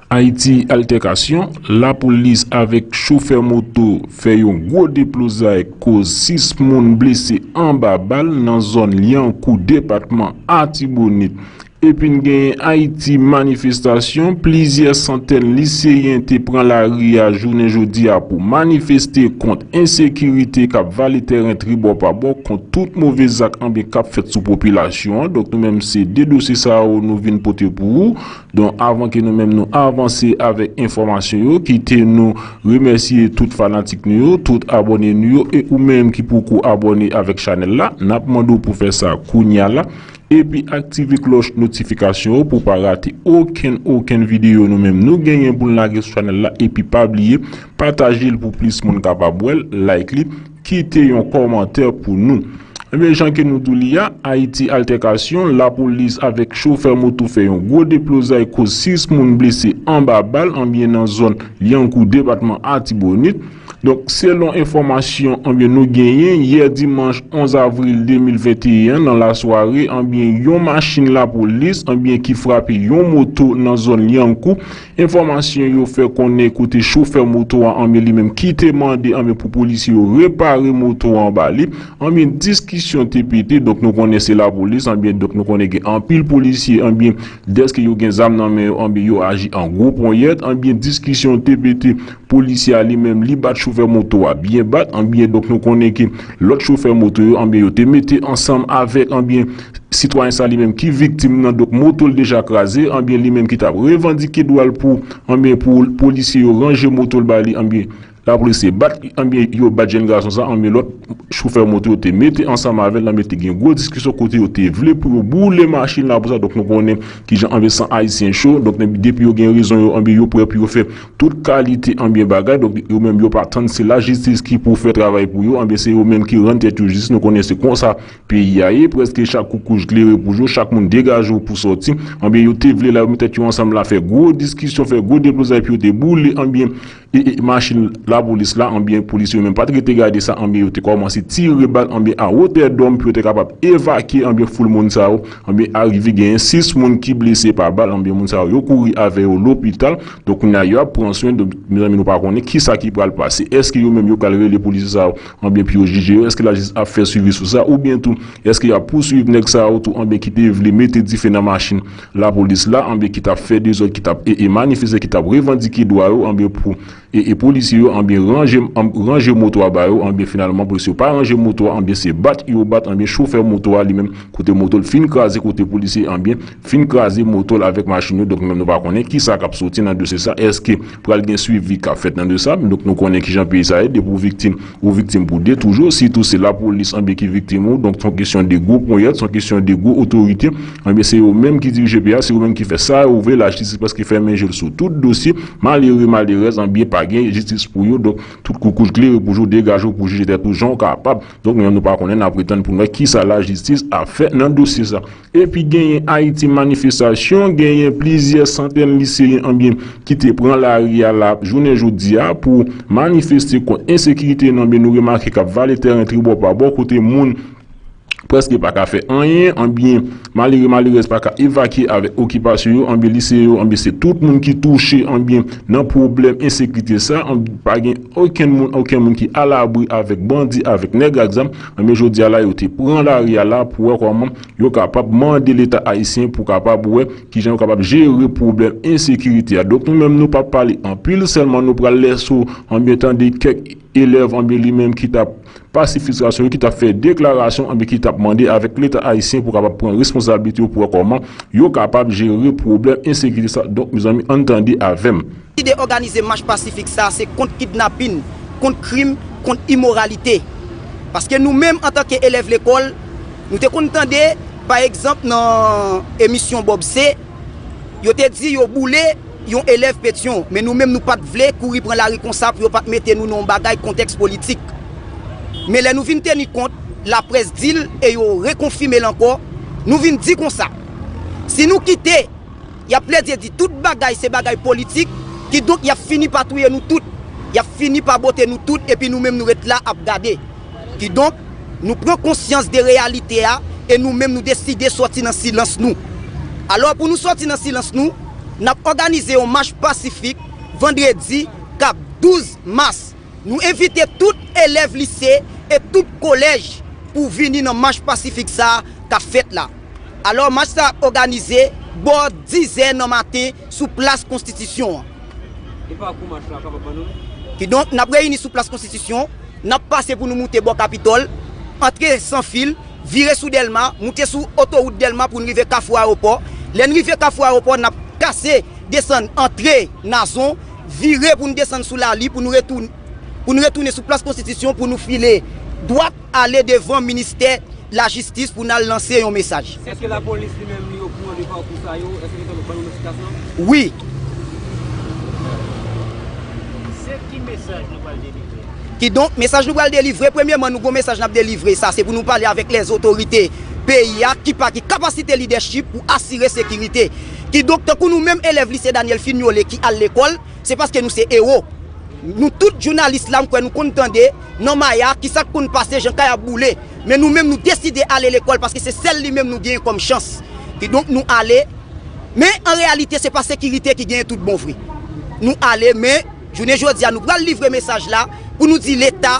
Ayiti Altèkasyon, Lapolis avèk chofè moto fè yon gwo deplozay koz 6 moun blese anba bal nan zòn Lyankou depatman Atibonit. Epi n genyen Ayiti Manifestasyon, plizyè santèn liseyen te pran lari a jounen jodi a pou manifeste kont ensekirite kap vale tèren tribò pa bò, kont tout move zak anben kap fèt sou popilasyon an. Donk nou menm se 2 dosye sa yo nou vin pote pou ou. Don avan ke nou menm nou avanse avèk enfòmasyon yo kite nou remèsye tout fanatik nou yo, tout abòne nou yo e ou menm ki poko abòne avèk chanèl la nap mande w pou fè sa kounya la epi aktive klòch notifikasyon ou pou w pa rate okenn okenn videyo nou menm nou genyen pou n lage sou chanèl la epi pa bliye pataje l pou plis moun kapab wè l like li Kite yon kòmantè pou nou. Ebyen jan ke nou di w li a, Ayiti Altèkasyon, Lapolis avèk chofè moto fè yon gwo deplozay koz 6 moun blese anba bal anbyen nan zòn Lyankou depatman Atibonit. Donk selon enfòmasyon anbyen nou genyen yè dimanch 11 avril 2021 nan lasware anbyen yon machin lapolis anbyen ki frape yon moto nan zòn Lyankou Enfòmasyon yo fè konnen kote chofè moto a anben li menm kite mande anben pou polisye yo repare moto a anba li anben diskisyon te pete donk nou konnen se lapolis anben donk nou konnen gen anpil polisye anben dèske yo gen zam nan men yo anben yo aji an gwo ponyèt anben diskisyon te pete polisye a li menm li bat chofè moto a byen bat anben donk nou konnen ke Lòt chofè moto yo anbyen yo te mete ansanm avèk anbyen sitwayen sa li menm ki viktim nan donk moto l deja kraze anbyen li menm ki tap revandike dwa l pou anbyen pou polisye yo ranje moto l ba li anbyen lapolis se bat anbyen yo bat jèn gason sa anbyen lòt chofè moto yo te mete ansanm avèl anbyen te gen gwo diskisyon kote yo te vle pou yo boule machin la pou sa donk nou konnen kijan anbyen san ayisyen cho donk depi yo gen rezon yo anbyen yo prè pou yo fè. tout kalite anbyen bagay donk yo menm yo pa tann se lajistis ki pou fè travay pou yo anbyen se yo menm ki rann tèt yo jistis nou konnen se konsa peyi a ye prèske chak koukouj klere pou jou chak moun degaje w pou sòti anbyen yo te vle la yo met tèt yo ansanm la fè gwo diskisyon fè gwo deblozay pou yo te boule anbyen machin lapolis la anbyen polisye yo menm pat rete gade sa anbyen yo te kòmanse tire bal anbyen a wotèdòm pou yo te kapab evakye anbyen foul moun sa yo. Anben arive genyen 6 moun ki blese pa bal, anben moun sa yo yo kouri avè yo lopital, donk kounye a yo ap pran swen, donk mezanmi nou pa konnen kisa ki pral pase, èske yo menm yo pral rele polisye sa yo anben pou yo jije yo, èske lajistis ap fè swivi sou sa oubyen tou èske yap pouswiv nèg sa yo tou anben ki te vle mete dife nan machin lapolis la anben ki tap fè dezòd ki tap manifeste ki tap revandike dwa yo anben pou. E e polisye yo anbyen ranje ranje moto a ba yo anbyen finalman polisye yo pa ranje moto a anbyen se bat yo bat anbyen chofè moto a li menm kote moto l fin kraze kote polisye anbyen fin kraze moto l avèk machin yo donk nou menm nou pa konnen kisa kap soti nan dosye sa èske pral gen swivi kap fèt nan dosye sa donk nou konnen kijan peyi sa ye depi w viktim Ou viktim pou de toujou, sitou se lapolis anben ki viktim ou, donk son kesyon de gwo ponyèt, son kesyon de gwo otorite, anben se yo menm ki dirije peyi a, se yo menm ki fè sa yo vle, lajitis prèske fèmen je l sou tout dosye, malere, malerèz, anben pa gen jitis pou yo, donk tout koukouj klere pou jou, degaje w pou jije tèt ou jan w kapab, donk nou menm nou pa konnen, n a pretann pou n wè kisa lajitis ap fè nan dosye sa. Epi genyen Ayiti manifesasyon, genyen plizyè santèn liseyen anbyen ki te pran lari a la jounen jodi a pou manifeste kont ensekirite nan anbyen nou remake k ap vale tèren tribò pa bò kote moun prèske pa ka fè anyen anbyen malere malerèz pa ka evakye avèk okipasyon yo anbyen liseyen yo anbyen se tout moun ki touche anbyen nan pwoblèm ensekirite sa anbyen pa gen okenn moun okenn moun ki alabri avèk bandi avèk nèg ak zam Enben jodi a la yo te pran lari a la pou wè kòman yo kapab mande leta ayisyen pou kapab wè kijan yo kapab jere pwoblèm ensekirite a. Donk nou menm nou pa pale anpil sèlman nou pral lè sou anbyen tande kèk elèv anbyen li menm ki tap pase fistrasyon yo ki tap fè deklarasyon anbyen ki tap mande avèk leta ayisyen pou kapab pran responsablite yo pou wè kòman yo kapab jere pwoblèm ensekirite sa donk mezanmi ann tande avèm. Lide òganize mach pasifik sa a se kont kidnapin, kont krim, kont imoralite. Paske nou menm antanke elèv lekòl, nou te konn tande, pa egzanp nan emisyon Bob C, yo te di yo boule yon elèv Petion. Men nou menm nou pa t vle kouri pran lari konsa pou yo pa t mete nou nan yon bagay kontèks politik. Men lè nou vin teni kont, laprès di l e yo rekonfime l ankò, nou vin di konsa, si nou kite. Y ap plede di tout bagay se bagay politik, kidonk y ap fini pa touye nou tout. Y ap fini pa bote nou tout epi nou menm nou ret la ap gade. Kidonk, nou pran konsyans de reyalite a e nou menm nou deside sòti nan silans nou. Alò, pou nou sòti nan silans nou, n ap òganize yon mach pasifik vandredi k ap 12 mas. Nou envite tout elèv lise e tout kolèj pou vini nan mach pasifik sa a k ap fèt la. Alò mach sa ap òganize bò 10 zè nan maten sou plas konstitisyon an. E pakou mach la kapab ban nou? Kidonk nap reyini sou plas konstitisyon, nap pase pou nou moute bò kapitòl, antre san fil, vire sou dèlma, moute sou otowout dèlma pou n rive kafou ayewopò, lè n rive kafou ayewopò nap kase desann antre nazon, vire pou n desann sou lali pou nou retounen sou plas konstitisyon pou nou file dwat. Ale devan ministè lajistis pou n al lanse yon mesaj. Eske lapolis li menm li okouran de pakou sa yo? Eske li kapab ban nou yon esplikasyon? Wi. Se ki mesaj nou pral delivre? Kidonk, mesaj nou pral delivre, premyeman nou gon mesaj n ap delivre, sa se pou nou pale avèk lèzotorite peyi a ki pa gen kapasite lidèchip pou asire sekirite. Kidonk, tankou nou menm elèv lise Daniel Fignolé ki al lekòl, Se paske nou se ewo. Nou tout jounalis la m kwè nou konn tande non Maya, kisa k konn pase, jan kay ap boule. Men nou menm nou deside ale lekòl paske se sèl li menm nou genyen kòm chans. Kidonk nou ale. Men an reyalite se pa sekirite ki genyen tout bon vre. Nou ale men jounen jodi a nou pral livre mesaj la pou nou di leta.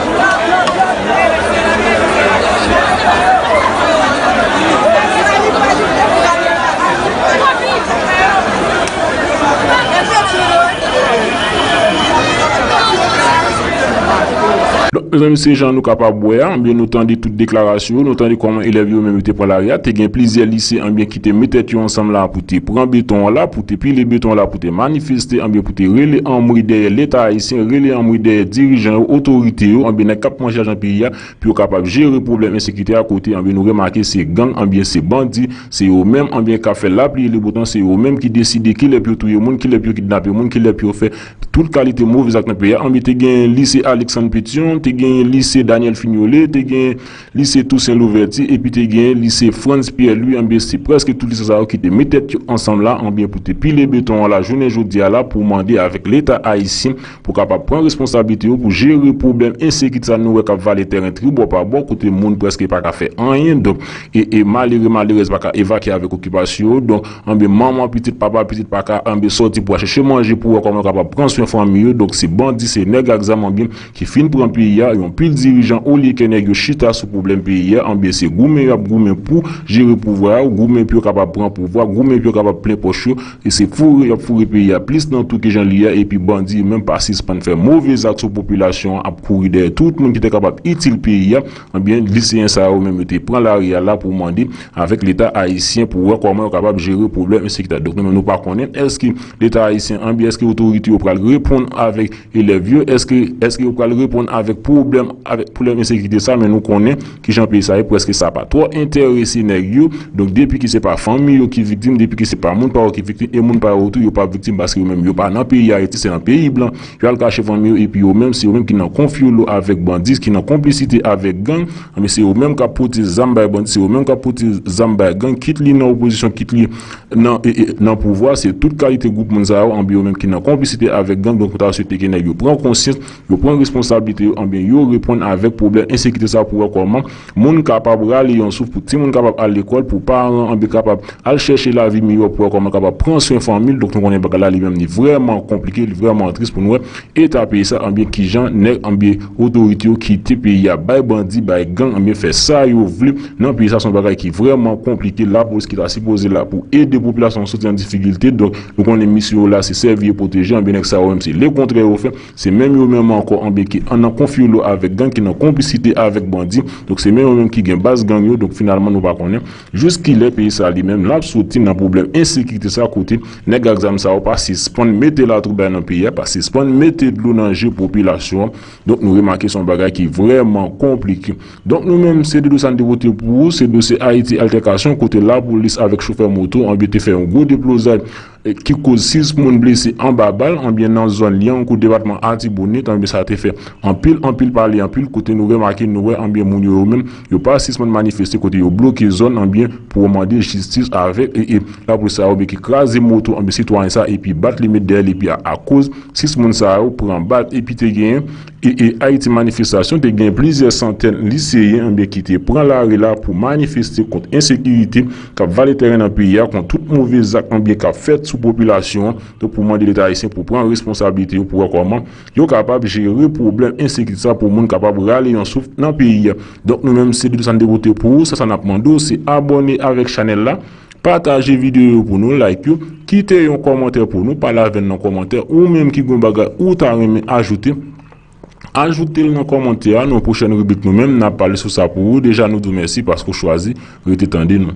Donk mezanmi se jan nou kapab wè a, anbyen nou tande tout deklarasyon yo, nou tande kòman elèv yo menm yo te pran lari a, te gen plizyè lise anbyen ki te met tèt yo ansanm la pou te pran beton an la, pou te pile beton an la, pou te manifeste, anben pou te rele anmwe dèyè leta ayisyen, rele anmwe dèyè dirijan yo, otorite yo, anben nèg kap manje lajan peyi a, pou yo kapab jere pwoblèm ensekirite a kote anben nou remake se gang, anben se bandi, se yo menm anben kap fè lapli e lebotan, se yo menm ki deside kilè pou yo touye moun, kilè pou yo kidnape moun, kilè pou yo fè tout kalite move zak nan peyi a, anben te gen lise Alexandre Pétion, te gen lise Daniel Fignolé, te gen. Lise Tousen Louvèti epi te gen Lise Frantz Pyè Lwi an byen se prèske tout lise sa yo ki te met tèt yo ansanm la an byen pou te pile beton an lajounen jodi a la pou mande avèk leta ayisyen pou kapab pran responsablite yo pou jere pwoblèm ensekit sa nou wè k ap vale tèren tribò pa bò kote moun prèske pa ka fè anyen donk e e malere malerèz pa ka evakye avèk okipasyon yo donk an byen manman pitit papa pitit pa ka an byen sòti pou al chèche manje pou wè kòman yo kapab pran swen fanmi yo donk se bandi se nèg ak zam an byen ki fin pran peyi a yon pil dirijan olye kè nèg yo chita sou pwoblèm peyi a anbyen se goumen yo ap goumen pou jere pouvwa yo goumen pou yo kapab pran pouvwa goumen pou yo kapab plen pòch yo e se foure yo ap foure peyi a plis nan tou kijan li ye epi bandi yo menm pa sispann fè move zak sou popilasyon an ap kouri dèyè tout moun ki te kapab itil peyi a anbyen liseyen sa yo menm yo te pran lari a la pou mande avèk leta ayisyen pou wè kòman yo kapab jere pwoblèm ensekita donk nou menm nou pa konnen èske leta ayisyen anbyen èske otorite yo pral reponn avèk. Elèv yo, èske èske yo pral reponn avèk pwoblèm avèk pwoblèm ensekirite sa men nou konnen kijan peyi sa ye prèske sa pa twò enterese nèg yo donk depi ki se pa fanmi yo ki viktim depi ki se pa moun pa yo ki viktim e moun pa yo tou yo pa viktim paske yo menm yo pa nan peyi ayiti se nan peyi blan yo al kache fanmi yo epi yo menm se yo menm ki nan konfyolo avèk bandi ki nan konplisite avèk gang anben se yo menm kap pote zam bay bandi se yo menm kap pote zam bay gang kit li nan opozisyon kit li nan pouvwa se tout kalite gwoup moun sa yo anbyen yo menm ki nan konplisite avèk gang donk nou ta swete ke nèg yo pran konsyans yo pran responsablite yo anbyen yo reponn avèk pwoblèm ensekite sa pou wè kòman moun kapab rale yon souf pou timoun kapab al lekòl pou paran anbyen kapab al chèche lavi miyò pou wè kòman kapab pran swen fanmil donk nou konnen bagay la li menm li vrèman konplike li vrèman tris pou nou wè Eta peyi sa anbyen kijan nèg anbyen otorite yo kite peyi a bay bandi bay gang anbyen fè sa yo vle nan peyi sa son bagay ki vrèman konplike lapolis ki ta sipoze la pou ede popilasyon an soti nan difikilte donk nou konnen misyon yo la se sèvi e pwoteje anbyen nèg sa yo menm se lekontrè yo fè se menm yo menm ankò anbyen ki an nan konfilo avèk gang ki nan konplisite avèk bandi donk se menm yo menm ki gen baz gang yo donk finalman nou pa konnen Jous kilè peyi sa li menm lap soti nan pwoblèm ensekirite sa kote nèg ak zam sa yo pa sispann mete latroublay nan peyi a, pa sispann mete dlo nan je popilasyon an, donk nou remake se yon bagay ki vrèman konplike. Donk nou menm se 2 dosye sa n te pote pou ou, se dosye Ayiti Altèkasyon kote lapolis avèk chofè moto an te fè yon gwo deplozay ki koz 6 moun blese anba bal anbyen nan zòn Lyankou depatman Atibonit anbyen sa te fè anpil anpil pale anpil kote nou remake nou wè anbyen moun yo yo menm yo pa sispann manifeste kote yo bloke zòn anbyen pou yo mande jistis avèk e e lapolis sa yo men ki kraze moto anbyen sitwayen sa epi bat li met dèyèl epi akoz 6 moun sa yo pran bal epi te genyen EE Haiti Manifestasyon te gen plizyè santèn liseyen anbyen ki te pran lari la pou manifeste kont ensekirite kap vale tèren nan peyi a, kont tout move zak anbyen kap fèt sou popilasyon an, donk pou mande leta ayisyen pou pran responsablite yo pou wè kòman yo kapab jere pwoblèm ensekirite sa pou moun kapab rale yon souf nan peyi a. Donk nou menm se Dodo San Devote pou ou, sa sa nap mande w se abòne avèk chanèl la, Pataje video yo pou nou, like yo, kite yon kòmantè pou nou, pale avè n nan kòmantè, ou menm ki gen yon bagay ou ta renmen ajoute, ajoute l nan kòmantè a nan yon pwochèn ribrik nou menm nap pale sou sa pou ou, deja nou di w mèsi paske w chwazi rete tande nou.